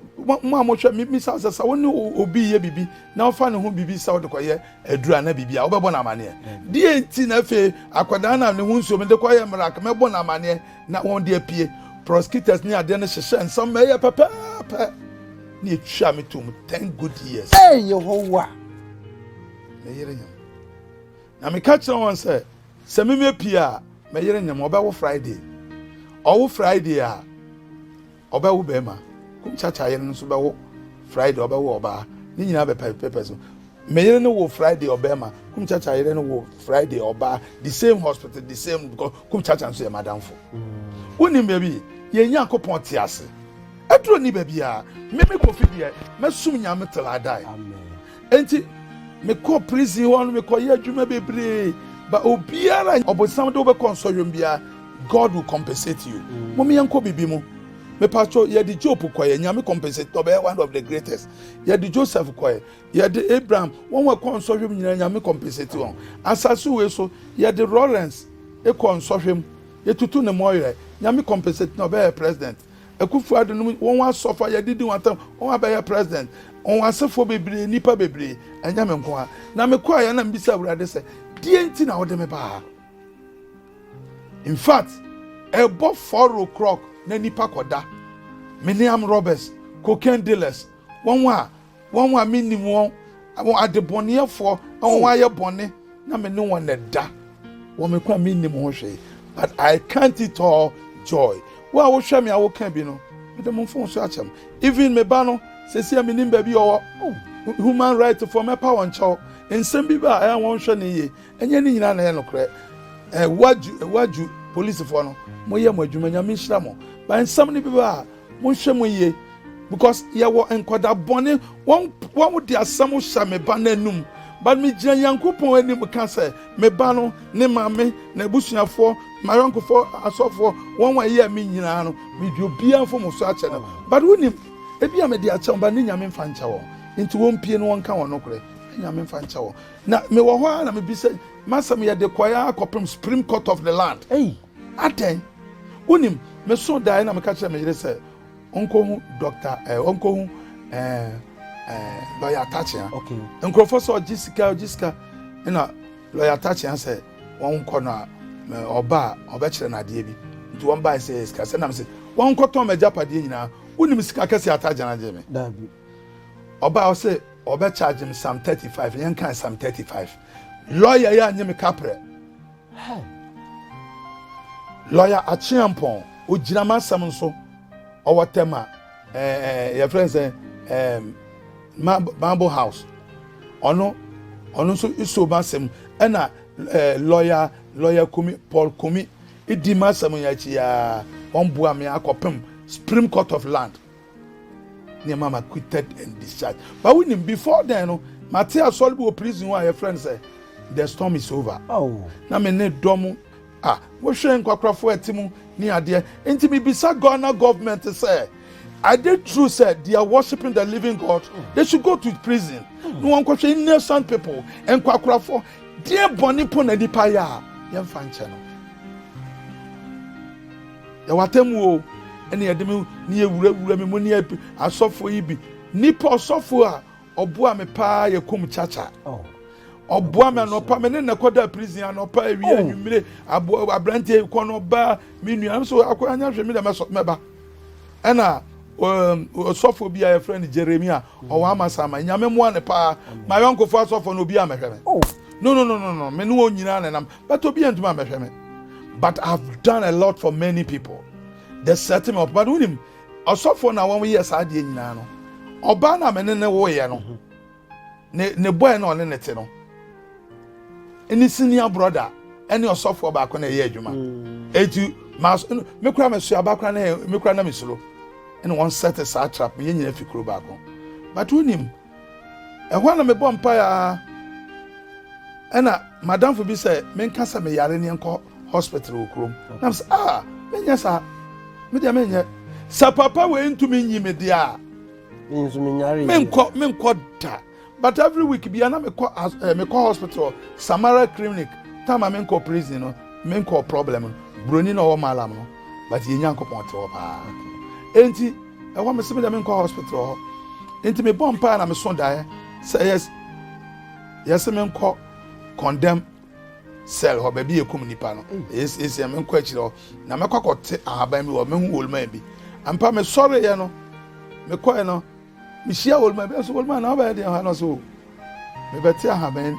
mo a mo hwɛ mi misa sɛ sa wɔn ne obi yɛ bibi na wɔfa ne ho bibi sa wɔde kɔ yɛ Aduru a na biribi a wobɛbɔ no amaneɛ. Deɛ nti na afei akwadaa no a ne ho nsuo mede kɔ yɛ mmerɛ mɛbɔ no amaneɛ na wɔn de apue prosecutors ne adeɛ no hyehyɛ nsɛm ma ɛyɛ pɛpɛɛpɛ ne ɛtwa me tom ten good years. Ee Yehowa! Meyere nyam. Na meka kyerɛ wɔn sɛ sɛ memepie a meyere nyam ɔbɛwo Friday. Ɔwo Friday a Ɔbɛwo barima. Kumkyakyah yere no nso bɛwo Friday, ɔbɛwo ɔbaa. Ne nyinaa bɛ papers no. Me yere no wo Friday ɔbarima. Kumkyakyah yere no wo Friday ɔbaa. The same hospital, the same because Kumkyakyah nso yɛ madamfo. Mm. Wonim baabi yɛn Nyankopɔn te ase. Aduro ni baabi a meme kofi deɛ mɛsum Nyame till I die. Amen. Enti mekɔɔ prison hɔ no, mekɔyɛ adwuma bebree, but obiara ɔbonsam de wobɛkɔ nsɔhwɛm biara, God will compensate you. Mm. Mom yɛnkɔ bibi mu. Mepatro yɛde Job kɔyɛ, Nyame compensate ɔbɛyɛ one of the greatest. Yɛde Joseph kɔyɛ, yɛde Abraham, wɔn wɔ kɔ nsɔhwɛm nyinaa Nyame compensate wɔn. Asase wei so yɛde Lawrence ekɔ nsɔhwɛm, yɛtutu ne mɔyerɛ, Nyame compensate na ɔbɛyɛ president. Akufo Addo nom wɔn asɔfo a yɛde di wɔn atam wɔn abɛyɛ president wɔn asefoɔ bebree nnipa bebree ɛnyɛ me nko a na mekɔ ayɛ na mbisa awurade sɛ deɛ nti na wɔde me baa in fact ɛbɔ four o'clock na nipa kɔda me ne am robbers cocaine dealers wɔn a wɔn a mennim wɔn, wɔn adebɔneyɛfoɔ, na wɔn oh. ayɛ bɔne, na me ne wɔn ɛda. Wɔn me kɔ a mennim ho hwee, but I count it all joy. Wo a wohwɛ me a woka bi no, mede mo mfon so akyɛm. Even me ba no, sɛsi a menim baabi ɔwɔ. Oh. Human right foɔ mɛpa wɔn kyɛw. Nsɛm bi ba a ɛyɛ wɔn hwɛ ne yie. Ɛnyɛ ne nyinaa na ɛyɛ nokorɛ. Ɛwaju, ɛwaju polisifoɔ no, moyɛ mo adwuma, nyame nhyira mo. Ba nsɛm no bi ba a, Monhwɛ mu yie because yɛwɔ nkɔda bɔne wɔn wɔn de asɛm hyɛ me ba n'anum but me gyina Nyankopɔn anim ka sɛ me ba no ne maame na abusuafoɔ mayɔnkofoɔ asɔfoɔ wɔn a ɛyɛ me nyinaa no medwe obiara mfom so akyɛ no but wonim ebi a mede akyɛ wɔn ba ne nyame mfa nkyɛ wɔn nti wɔn pie no wɔn ka wɔn nokorɛ nyame mfa nkyɛ wɔn na mewɔ hɔ a na mebisa masɛm yɛde kɔɛ akɔpem supreme court of the land hey. Adɛn? Wonim, mesoo daeɛ na meka kyerɛ me yere sɛ ɔnkɔhu dɔkta ɛɛ eh, ɔnkɔhu ɛɛ ɛɛ lɔya atakyea. Okay. Nkurɔfoɔ sɛ ɔgye sika ɔgye sika ɛna lɔya atakyea sɛ wɔn nkɔ no a ɔba a ɔbɛkyerɛ no adeɛ bi nti wɔn bae sɛ sika sɛ nam sɛ wɔn nkɔtɔn ma agyapadeɛ nyinaa wonim sika kɛse atagyana gye me. Daabi. Ɔba ɔsɛ ɔbɛkyagye me sam thirty five yɛn kan sam thirty five lɔya yɛ anyi me kaprɛ. Hon. Lawyer Akyeampong, ogyina m'asɛm nso. Ɔwɔ Tema, eh, eh, your friend said, eh, Marble House. Ɔno, ɔno nso iso m'asɛm. Ɛna eh, lawyer, lawyer Kumi, Paul Kumi, idi m'asɛm yɛ akyi ya. Wɔn boa me akɔpem Supreme Court of Land. Nneɛma ma quitted and discharged. But we knew before then no, mate asɔre bi wɔ prison hɔ a yɛfrɛ no sɛ the storm is over. Oh. Na me ne dɔm a wohwɛ nkwakorafo ɛte mu ne adeɛ. Nti mebisa Ghana government sɛ, are they true sɛ they are worshiping the living God? They should go to prison. Hmm. Na wɔnkɔhwɛ innocent people, nkwakorafo. Deɛ bɔne po na nipa yɛ a, yɛmfa nkyɛ no. Yɛ w'atemmu o, ɛne yɛde me ne yɛ wurawura me mu ne yɛ asɔfoɔ yi bi. Nipa ɔsɔfoɔ a ɔboa me paa yɛ kum kyakya. Oh. Ɔboa me anɔpa me ne na kɔda prison anɔpa awie oh. anwummere aboa aberanteɛ kɔ no ɔbaa me nua nso akɔ anya hwɛ me dɛ mɛba. Ɛna ɔsɔfo um, bi a yɛfrɛ no jeremia mm. ɔwɔ amasama nyame mmoa ne paa ma yɔnkofo asɔfo no obi a mɛhwɛ me oh. no no no no no me ne wɔn nyinaa nenam but obi antumi ambɛhwɛ me but i have done a lot for many people they set me up but wonim ɔsɔfoɔ na wɔn yɛ saa adeɛ nyinaa no ɔbaa na mene ne woyɛ no mhm. ne ne bɔɛ na ɔne ne te no ne senior brother ɛne ɔsɔfoɔ baako na ɛyɛ adwuma mm. eti maa me kura mɛ so aba kura na me kura na me soro ɛna wɔn set saa trap yɛn nyinaa fi kuro baako but wonim. Ɛhɔ a na mebɔ mpae ara ɛna madamfo bi sɛ menka sɛ meyare ne nkɔ hospital wɔ kurom. Na sɛ ah menyɛ saa me deɛ menyɛ sɛ papa wei ntumi nyi me deɛ a menkɔ menkɔ da but every week bia na mekɔ eh, mekɔ hospital Samara clinic tama menkɔ prison no menkɔ problem no broni na ɔwɔ malam no but yɛ nyankopɔn te hɔ paa enti Ɛhɔ mese me dɛ menkɔ hospital hɔ. Nti mebɔ mpaa na meso daeɛ sɛ yes yɛse menkɔ condemn cell hɔ baabi yɛ kum nipa no yɛsɛ menkɔ akyire hɔ na mɛkɔ akɔte ahaban bi hɔ mehu wolman bi ampa mesɔreeɛ no mekɔɛ no mehyia wolman bi nso wolman na wobɛyɛ deɛ ha no so mebɛte ahaban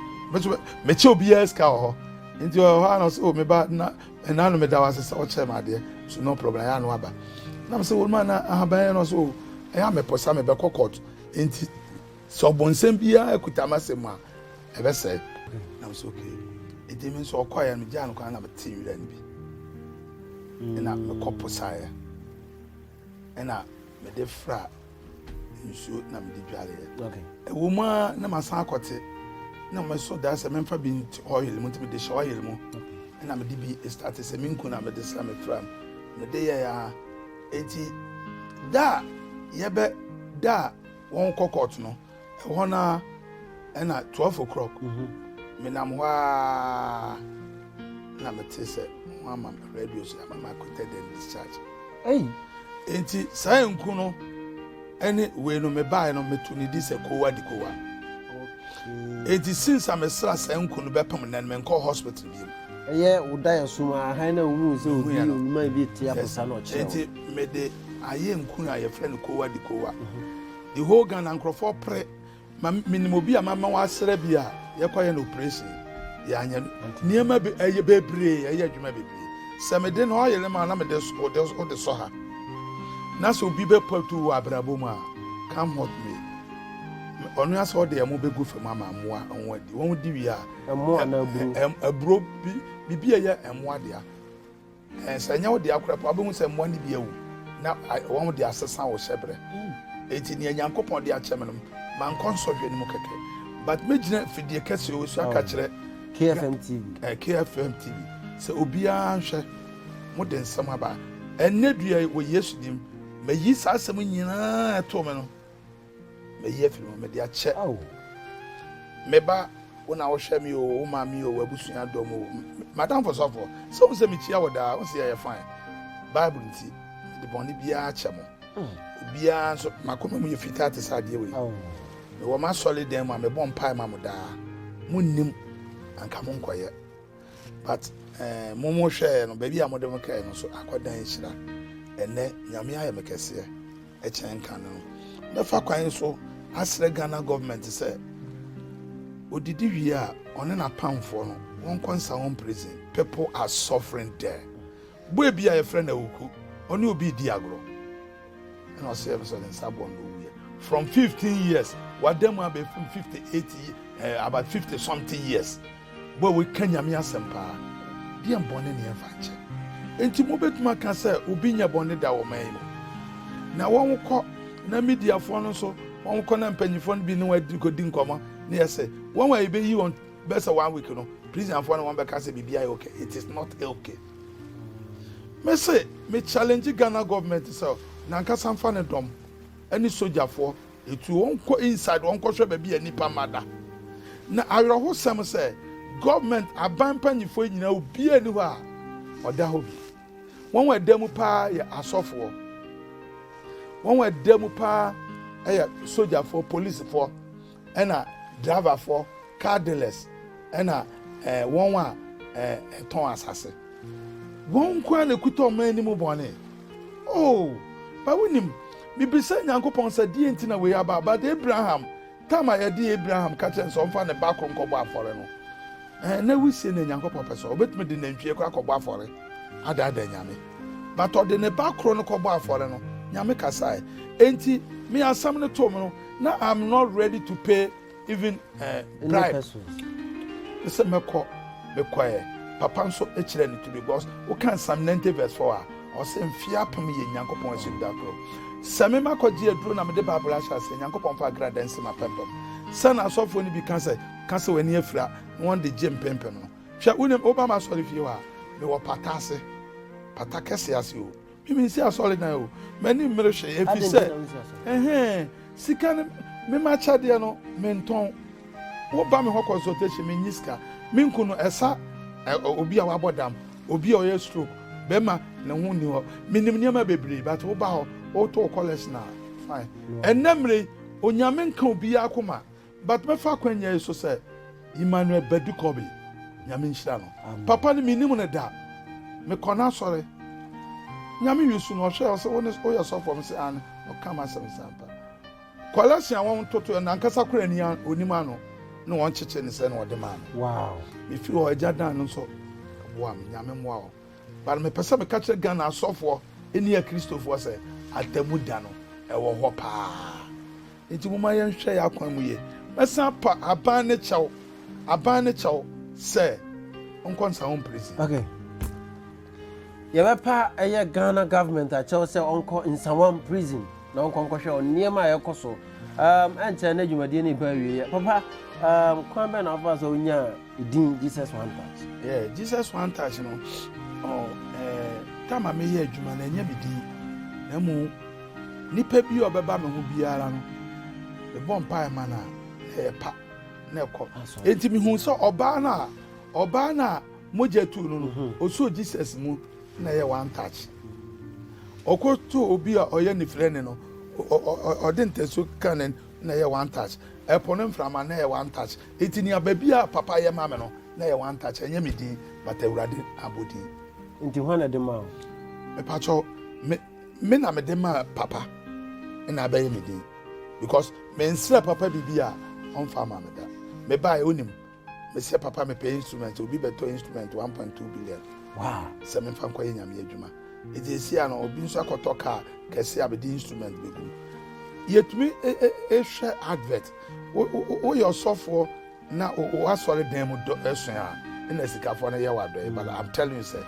mekyɛ obiara sika wɔ hɔ nti ɔhɔ a no so meba na Ɛna no meda wo ase sɛ ɔkyerɛ me adeɛ so no problem ɛyɛ ano aba na me sɛ wɔn mu ana ahaban yɛ no so o ɛyɛ amɛpɔ sa mebɛkɔ court nti sɛ ɔbɔnsɛm biara kuta ma sɛ mu a ɛbɛsɛe na me sɛ okay ɛdi me nso ɔkɔeɛ no gyaa no kwan na mete werɛ no bi ɛna mekɔ posaeɛ Ɛna mede fra nsuo na mede dwareɛ. Ɛwɔ mu a na masan akɔte na mɛso da sɛ memfa bi nti oil mu nti mede hyɛ oil mu ɛna mede bi starte sɛ menku na mede sra me fra mu mede yɛ a ɛti da a yɛbɛ da a wɔnkɔ kɔɔto no Ɛhɔ no ara, ɛna twelve o'clock, menam hɔ ara na mete sɛ wɔama me radio so ama me acquitted and discharged. Hey. Enti saa nku no ɛne wei no mebaeɛ no meto ne di sɛ kowa di kowa. Enti since a mesra saa nku no bɛpem nnɛ no menkɔ hospital bi mu. Ɛyɛ wo da yɛ so ma hann na wohu sɛ obi onuma bi te aposa na ɔkyerɛ wo. Enti mede ayɛ nku a yɛfrɛ no kowa di kowa. Mhm. The whole Ghana nkorɔfoɔ pere ma menim obi a mama wasra bi a yɛkɔyɛ no operation yɛanyɛ no nneɛma be ɛyɛ bebree ɛyɛ adwuma bebree sɛ mede no ɔyere ma na mede so ɔde ɔde sɔ ha na sɛ obi bɛpatu wɔ abrabɔ mu a come hot me ɔno asɛ ɔde ɛmo bɛgu fam ama mmoa wɔn adi wɔn di wie a ɛmo anaa aburo aburo bi biribi a ɛyɛ ɛmo adea Sɛ ɛnyɛ wo dea koraa mpo a, wubehu sɛ mmoa no bi awu, na wɔn de asesa wo hyɛbrɛ. Enti nea Nyankopɔn de akyɛ me no, mankɔ nsɔhwɛ no mu kɛkɛ, but megyina afidie kɛseɛ wɔ so aka kyerɛ KFM TV, eh, KFM TV sɛ obiara nhwɛ, mode nsɛm aba. Ɛnnɛ dua yi, wɔ Yesu dim, mayi saa asɛm nyinaa ɛtoo me no. mayi afiri mu mede akyɛ meba wo na wohwɛ me o wo ma me o w'abusua dɔm o madamfo sɔfo sɛ wo sɛ mekyia wɔ daa wo sɛ yɛyɛ fine bible nti mede bɔne biara kyɛ mo hmm. obiara nso makoma mu yɛ fitaa te sɛ adeɛ wei mewɔ m'asɔre dan mu a mebɔ mpae ma mo daa monnim anka monkɔyɛ but eh, mo mo hwɛɛ no baabi a mode mo kɛɛ no so akɔda nhyira ɛnɛ nyame ayɛ me kɛseɛ ɛkyɛn nka no mɛfa kwan so asrɛ ghana government sɛ odidi wie a ɔne n'apamfoɔ no wɔnkɔ nsa wɔn prison people are suffering there boy bi a yɛfrɛ no awuku ɔne obi di agorɔ ɛna ɔsɛ yɛm sɛ ne nsa bɔ no owuiɛ from 15 years wada mu abɛfim 58 eh, about 50 something years Mo a wɔka Nyame asɛm paa, deɛn bɔne ne yɛmfa nkyɛ? Enti mobɛtumi aka sɛ obi nyɛ bɔne da wɔ ɔman yi mu? Na wɔkɔ, na Mediafoɔ no nso wɔkɔ, na mpanyimfoɔ no bi ne wɔn kɔdi nkɔmmɔ, na yɛse, Wɔn a yɛbɛyi wɔn bɛsɛ one week no, prisonfoɔ no wɔbɛka sɛ biribiara yɛ okay. It is not okay. Mese, me challenge Ghana government sɛ, nankasa mfa ne dɔm ne sogyafoɔ Etu wɔn kɔ inside wɔn kɔ hwɛ baabi a nnipa mma da. Na awerɛhosɛm sɛ government aban mpanyinfoɔ yi nyinaa obiara ni hɔ a ɔda hɔ bi. Wɔn a ɛda mu paa yɛ asɔfoɔ. Wɔn a ɛda mu paa yɛ sogyafoɔ, polisifoɔ, ɛna driverfoɔ, car dealers, ɛna ɛɛ wɔn a ɛɛ ɛtɔn asase. Wɔn nko ara na ɛkuta ɔman no mu bɔne. Oh, but wonim, mebisa Nyankopɔn sɛ deɛn nti na wei aba, but Abraham, tam a yɛde Abraham ka kyerɛ no sɛ ɔmfa ne ba koro nkɔbɔ afɔre no, eh, na wusie na Nyankopɔn pɛ sɛ ɔbɛtumi de nantwie kɔ akɔbɔ afɔre adaadaa Nyame. But ɔde ne ba koro no kɔbɔ afɔre no, Nyame kasae. Enti, me asɛm no too me no, na I'm not ready to pay even eh, bribe ne sɛ mɛkɔ mekɔɛ papa nso kyerɛ ne to bi because woka nsam 90 verse 4 a ɔsɛ mfie apem yɛ nyankopɔn ahyɛm da koro sɛ me makɔgye aduro na mede bible ahyɛ ase nyankopɔn fa akra dɛn se mapɛmpɛm sɛ na asɔfoɔ no bi ka sɛ ka sɛ w'ani afira na wɔn de gye mpempem no hwɛ wonim woba ma asɔre fie hɔ a mewɔ pata ase pata kɛse ase o Me me nsi asɔredan o m'ani mmere hwee efi sɛ ɛhɛn sika no me ma kyɛdeɛ no me ntɔn wo ba me hɔ consultation me nyi sika me nku no ɛsa obi a wabɔ dam obi a ɔyɛ stroke bɛma ne ho nni hɔ menim nneɛma bebree but wo ba hɔ wotɔ kɔlɛs na fine ɛnna mmere onyame nka obiara koma. But mɛfa akwanya yi so sɛ Emmanuel Badu Kobe Nyame nhyira no papa no menim no da mekɔ n'asɔre Nyame wisu no ɔhwɛ ɔsɛ wo ne woyɛ sɔfo ɔm sɛ ane ɔka ma asɛm sɛ ampa kɔlɛsen a wɔn toto yɛ nankasa kora ni onim ano ne wɔn kyekye ne sɛ na ɔde maa no wow mefi hɔ agya dan no nso boa me Nyame mmoa hɔ but mepɛ sɛ meka kyerɛ Ghana asɔfoɔ ne akristofoɔ sɛ atamu da no ɛwɔ hɔ paa Enti momma yɛnhwɛ yɛn akwan mu yie. Mɛsan apa aban ne kyɛw, aban ne kyɛw sɛ nkɔ nsa ho mprɛnsi. Okay. Yɛbɛpa ɛyɛ Ghana government akyɛw sɛ ɔnkɔ Nsawam prison na ɔnkɔ nkɔhwɛ wɔn nneɛma a ɛkɔ so. Um, ɛnkyɛ na dwumadie no ba awieɛ. Papa, um, kwan bɛn na wobɛfa so wonyaa Edin Jesus One Touch. Yeah, Jesus One Touch no. Oh, eh, tama me yɛ adwuma na ɛnyɛ me din. Na mu nipa bi a ɔbɛba me ho biara no, mebɔ mpae ma no a, na ɛyɛ pa na ɛkɔ. Enti mehu sɛ ɔbaa no a ɔbaa no a mogya tu no no mhm. ɔsoo jesus mu na ɛyɛ one touch ɔkɔto obi a ɔyɛ ne frɛ ne no ɔde ntasuo ka ne na ɛyɛ one touch ɛpo ne mframa na ɛyɛ one touch Enti nea baabi a papa yɛ ma me no, na ɛyɛ one touch, ɛnyɛ me din, but Awurade abodin. Enti hwan na ɛde maa wo? Mepakyɛ wo, me, me na mede maa papa, ɛna abɛyɛ me din. Because mensrɛ papa biribi a ɔmfa ama me da. Mebaeɛ onim, mesɛ papa mepɛ instrument, obi bɛtɔ instrument 1.2 billion. Wow. Sɛ memfa nkɔyɛ nyame adwuma. Enti ɛsi a no, obi nso akɔtɔ kaa kɛse a mede instrument bɛgu. Yɛtumi ɛhwɛ e, e, e, advert. woyɛ ɔsɔfoɔ na w'asɔre dan mu dɔ ɛso a ɛna asikafoɔ no yɛ w'adɔe but i'm telling you sɛ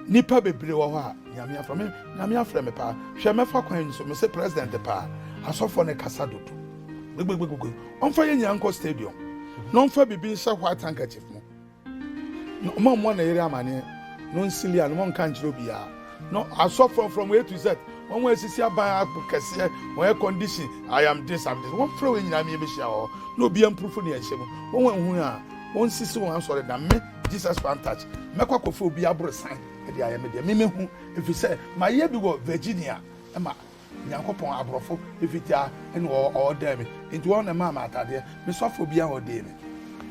nipa bebree wɔ hɔ a nyame afrɛ me nyame afrɛ me paa hwɛ mɛfa kwan nso mese president paa asɔfoɔ no kasa dodo gbegbegbegbe ɔmfa yɛ nyina nkɔ stadium na ɔmfa biribi nhyɛ white handkerchief mu Na ɔmma mmɔ ne yere amaneɛ, na ɔnsi Lea, na ɔnka nkyerɛ obiara. Na asɔfoɔ from A to Z, wɔn a asisi aban apo kɛseɛ, wɔn air condition, I am this, I'm this, wɔmfrɛ wɔn nyinaa mmie mmɛhyia hɔ, na obiara mprofo deɛ ɛhyɛ mu. Wɔn a ɛhunu a, wɔnsisi wɔn asɔredan. Me, Jesus Fan Touch, mɛkɔ akɔfa obiara aborosan de ayɛ me deɛ. Me mɛhu, ɛfiri sɛ mayɛ bi wɔ Virginia ma Nyankopɔn abrɔfo fitaa na ɔɔdɛɛ me nti wɔn na ɛmaa me ataadeɛ me sɔfoɔ biaa ɔɔdee me.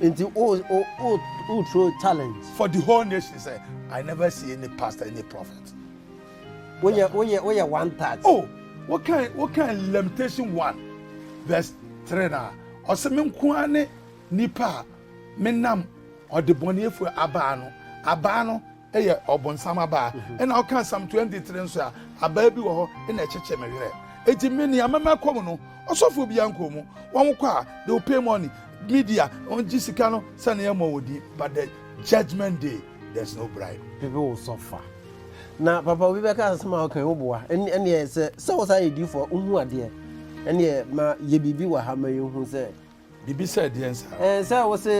Nti o o o o tro challenge. For the whole nation sɛ I never see any pastor any prophet. Wo yɛ wo yɛ wo yɛ one third. Oh wo kan wo kan limitation one verse three na ɔsɛ me nko ara ne nipa a me nam ɔde bɔneyɛfoɔ abaa no abaa no. yɛ ɔbonsam abaa na ɔka psalm 23 nso a abaa bi wɔ hɔ na ɛkyekye me werɛ enti me nea mɛma kɔ mu no ɔsɔfo bi ankɔ mu wɔn kɔ a they will pay money media wɔn gye sika no sɛ na yɛmmɔ wɔ din but the judgment day there's no bribe bibi wo sɔfa na papa obi bɛka asɛm a ɔka wo boa ɛneɛ sɛ sɛ wo saa yɛ difoɔ wohu adeɛ ɛneɛ ma yɛ biribi wɔ ha ma yɛhu sɛ Bibi sɛ deɛn saa? Ɛɛ sɛ wo se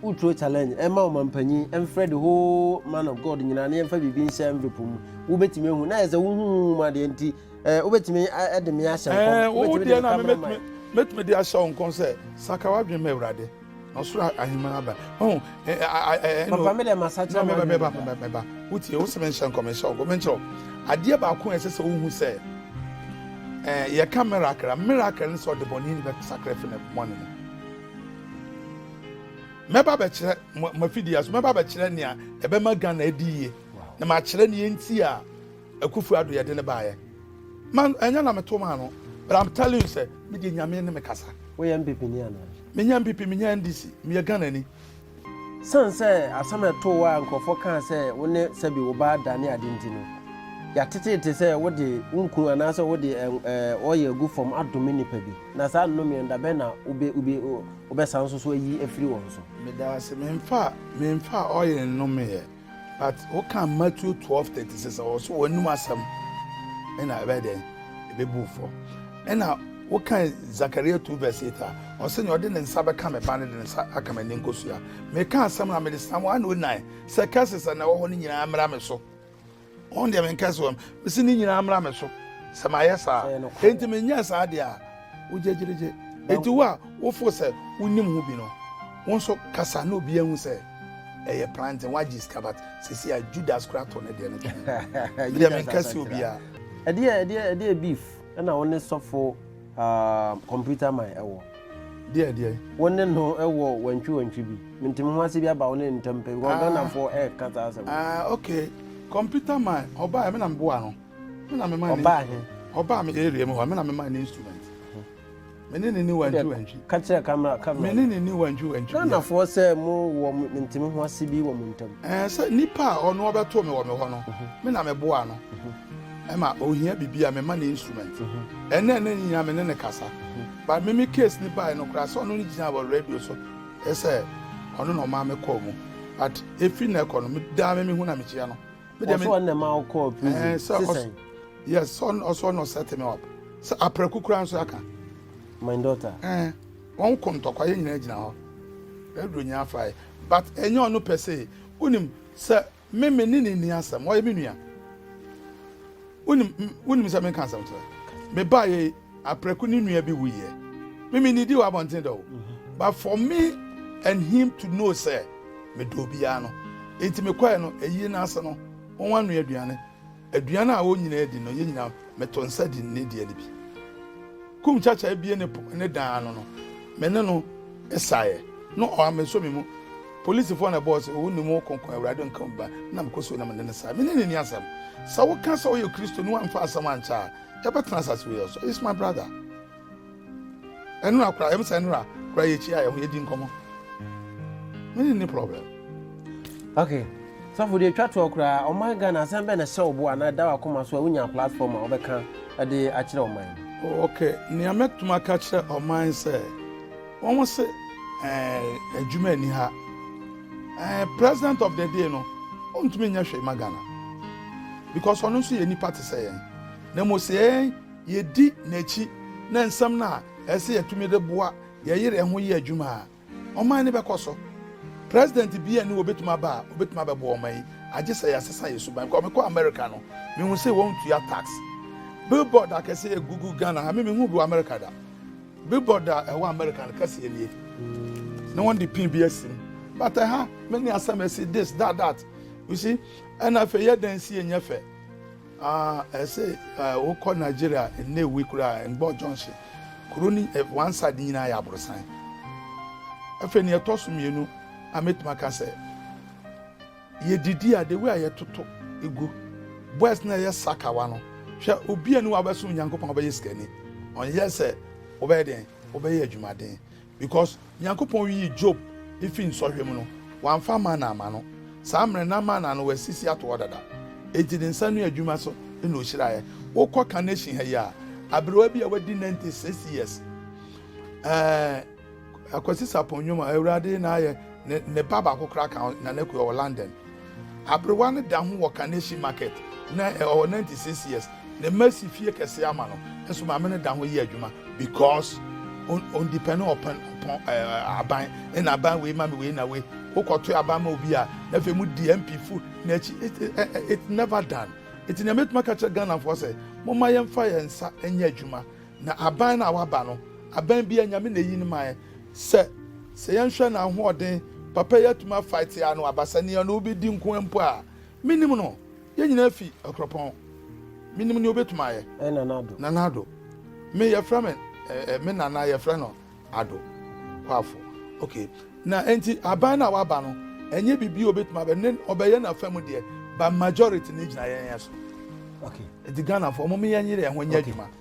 wo turo challenge ɛma ɔmanpanyin ɛmfrɛ the whole man of God nyinaa na yɛmfa biribi nhyɛ envelope mu wo bɛtumi ahu na yɛ sɛ wo hu hu mu adeɛ nti ɛɛ wo bɛtumi ɛde me ahyɛ nkɔm ɛɛ wo wo deɛ na me mɛtumi mɛtumi de ahyɛ wo nkɔm sɛ saka wadwene ma awurade na ɔsoro ahemman aba ɔn papa me dɛ masakyera ma meba meba meba wotie wo sɛ menhyɛ nkɔm nhyɛ ɔgɔ menkyerɛ adeɛ baako a ɛsɛ sɛ wohu sɛ ɛɛ yɛka miracle miracle ne sɛ ɔde bɔne ni bɛsakra fi ne bɔne mu mɛba bɛkyerɛ mafidi aso mɛba bɛkyerɛ nea ɛbɛma ghana adi yie na makyerɛ nea nti a Akufu ado yɛde no baeɛ man ɛnyɛ na meto maa no but I'm telling you sɛ me deɛ nyame ne me kasa. Woyɛ NPP ni anaa? Menyɛ NPP menyɛ NDC meyɛ Ghana ni. Sane sɛ asɛm a ɛtoo wo a nkurɔfoɔ kaa sɛ wo ne sɛbi wo ba da ne ade nti no, yɛateteete sɛ wode wo nkunu anaasɛ wode oil agu fam adome nnipa bi, na saa nnomeɛ no da bɛn na wobɛsan nso so ayi afiri wɔn so? Medaase, memfaa oil nnomeeɛ. But woka Matthew twelve thirty six a ɔso wɔn anim asɛm ɛna ɛbɛyɛ dɛ ɛbɛbu fam ɛna woka Zakaria two verse eight a ɔsɛ nea ɔde ne nsa bɛka me ba no de ne nsa aka me ne nkosua meka asɛm na mede sam wɔn ano nnan sɛ curses na ɛwɔ hɔ no nyinaa mmra me so Wɔn deɛ menkɛ sɛ wɔn mesi ne nyinaa mmra me so sɛ mayɛ saa enti menyɛ saa deɛ a wogyegyerigye enti wo a wofo sɛ wonim ho bi no wo nso kasa na obi ahu sɛ ɛyɛ planting wagye sika but sisi a Judas kura to ne deɛ no twɛn deɛ menkɛ sɛ obiara ɛdeɛ ɛdeɛ ɛdeɛ beef ɛna wo ne sɔfo Aah computer man ɛwɔ. Deɛ deɛ. Wo ne no wɔ wantwi wantwi bi. Mente me ho ase bi aba wo ne no ntam pɛ because Ghana foɔ ɛɛka saa asɛm no. Aah okay computer man ɔbaa me na me boa no. Me na me ma no. Ɔbaa he? Ɔbaa me area mu hɔ me na me ma no instrument. Me ne no ni wantwi wantwi. Ka kyerɛ camera camera no. Me ne no ni wantwi wantwi biara. Ghana foɔ sɛ mo wɔ mente me ho ase bi wɔ mo ntam. Ɛɛ sɛ nipa a ɔno ɔbɛtoo me wɔ me hɔ no me na me boa no. Ɛma ohia biribi a mema no instrument. Ɛnna ɛnna nyinaa me ne no kasa. But me me case ni bae no koraa sɛ ɔno ne gyina wɔ radio so sɛ ɔno na ɔmaa me kɔɔ mu. But efi na ɛkɔ no me daa me mehu na mekyia no. Me deɛ me ɔsɔ ɔnna ma ɔkɔɔ prison sisan. Yes ɔn ɔsɔ ɔnna ɔsɛ temi up. Sɛ aprɛko koraa nso aka. My daughter. Ɛn wɔn kɔ ntɔkwa yɛn nyinaa gyina hɔ. Radio nyinaa fae but ɛnyɛ ɔno pɛ sɛ wonim sɛ Me, me ne no nni asɛm. Ɔyɛ me nua. Wonim, wonim sɛ menka asɛm kyerɛ. Mebaa yɛ aprɛko ne nua bi wuyɛ. Me, me nidi wɔ abɔnten dɛ o. Mhm. But for me and him to know sɛ medɔ obiara no, enti mekɔɛ no, ɛyi n'ase no, wɔn ano aduane. Aduan a wɔn nyinaa di no, yɛn nyinaa meto nsa di ne deɛ no bi. Kumkyakya abue ne po ne dan ano no, me ne no saeɛ. No ɔa me so me mu. Polisifoɔ na ɛbɔɔ sɛ, Ɔwɔ ne mu ɔkonko, Awurade nka obi ba, na mekɔ so na me ne no sae. Me ne no nni asɛm. Sɛ woka sɛ woyɛ Kristoni, woamfa asɛm ankyɛ a, yɛbɛtena asase wei so. He's my brother. ɛnora kora yɛm sɛ ɛnora kora yɛkyia yɛ ho yɛdi nkɔmmɔ mene ne problem okay sɔfo deɛ twa toɔ koraa ɔman ghana asɛm bɛ na hyɛ wo bo anaa ɛda wakoma so a wonya platform a wobɛka de akyerɛ ɔman no okay nea mɛtumi aka kyerɛ ɔman sɛ wɔn se adwuma ani ha president of the day no ɔntumi nyɛ hwee ma ghana because ɔno nso yɛ nipa te sɛ yɛn na mmom sɛ yɛn yedi n'akyi na nsɛm no a ɛsɛ sɛ yetumi de boa yɛn yere ho yɛ adwuma a, ɔman no bɛkɔ so. President bi ani obetumi aba a, obetumi abɛboa ɔman yi, agye sɛ yɛasesa yɛn suban. Kɔ mekɔɔ Amerika no, mihu sɛ wɔntua tax. Billboard akɛse egugu Ghana ha, me minhuu bi wɔ Amerika da. Billboard a ɛwɔ Amerika no kɛseɛ nie, na wɔde pin bi asi mu. But ɛha, me ne asɛm asi this, that, that. You see? Ɛna afei yɛ dan si yɛ nyɛ fɛ. Ah ɛsɛ sɛ eh wo kɔ Nigeria nnɛ wi koraa eh Ngbor junction kuro ni eh one side nyinaa yɛ aborosan. Ɛfɛ ni ɛtɔ so mmienu a mɛtumi aka sɛ yɛ didi a the way a yɛ toto egu boys na ɛyɛ sakawa no hwɛ obi a ni wa bɛsom Nyankopɔn ɔbɛyɛ sikani ɔnyɛ sɛ wobɛyɛ den wobɛyɛ adwumaden. Because Nyankopɔn yii Job fii nsɔhwɛ mu no, Ɔammfa manna amma no. Saa mmerɛ no na manna no Ɔasisi ato hɔ dada. Enti Ne nsa ano adwuma so na Ɔhyiraeɛ. Wokɔ Carnation ha yi a, aberewa bi a wadi 96 years, eh, Akwasi Sarpong Nyoma, Awurade na ayɛ ne ba baako koraa ka ho, Nana Akua, wɔ London. Aberewa no da ho wɔ Kaneshie market na ɔwɔ ninety six years ne mma asi fie kɛseɛ ama no nso maame no da ho yɛ adwuma because ɔndipɛne ɔpɛn ɔpɔn ɛɛ aban ɛna aban wei ma me wei na wei wokɔto aban ma obi a na afei mu di MP fo n'akyi it it never done eti nea mɛtuma ka kyerɛ Ghanafoɔ sɛ mo ma yɛn fa yɛn nsa nyɛ adwuma. Na aban no a waba no, aban biara Nyame na eyi no mae, sɛ sɛ yɛnhwɛ n'ahoɔden, papa yi atumi afaete ano aba sɛ nea ɔne wo bedi nko ara mpo a. Minnim no. Yɛn nyinaa fi Akuropɔn. Minnim nea obetumi ayɛ. Ɛyɛ Nana Ado. Nana Ado. Me yɛfrɛ me eh, eh, me nana yɛfrɛ no Ado Kwafo. Okay. Na enti aban no a waba no, ɛnyɛ biribi a obetumi abɛ ne ɔbɛyɛ n'afa mu deɛ, ba majority ne gyina yɛn yɛn so. Okay. Enti Ghanafoɔ, wɔn yɛn yere yɛn ho nyɛ adwuma.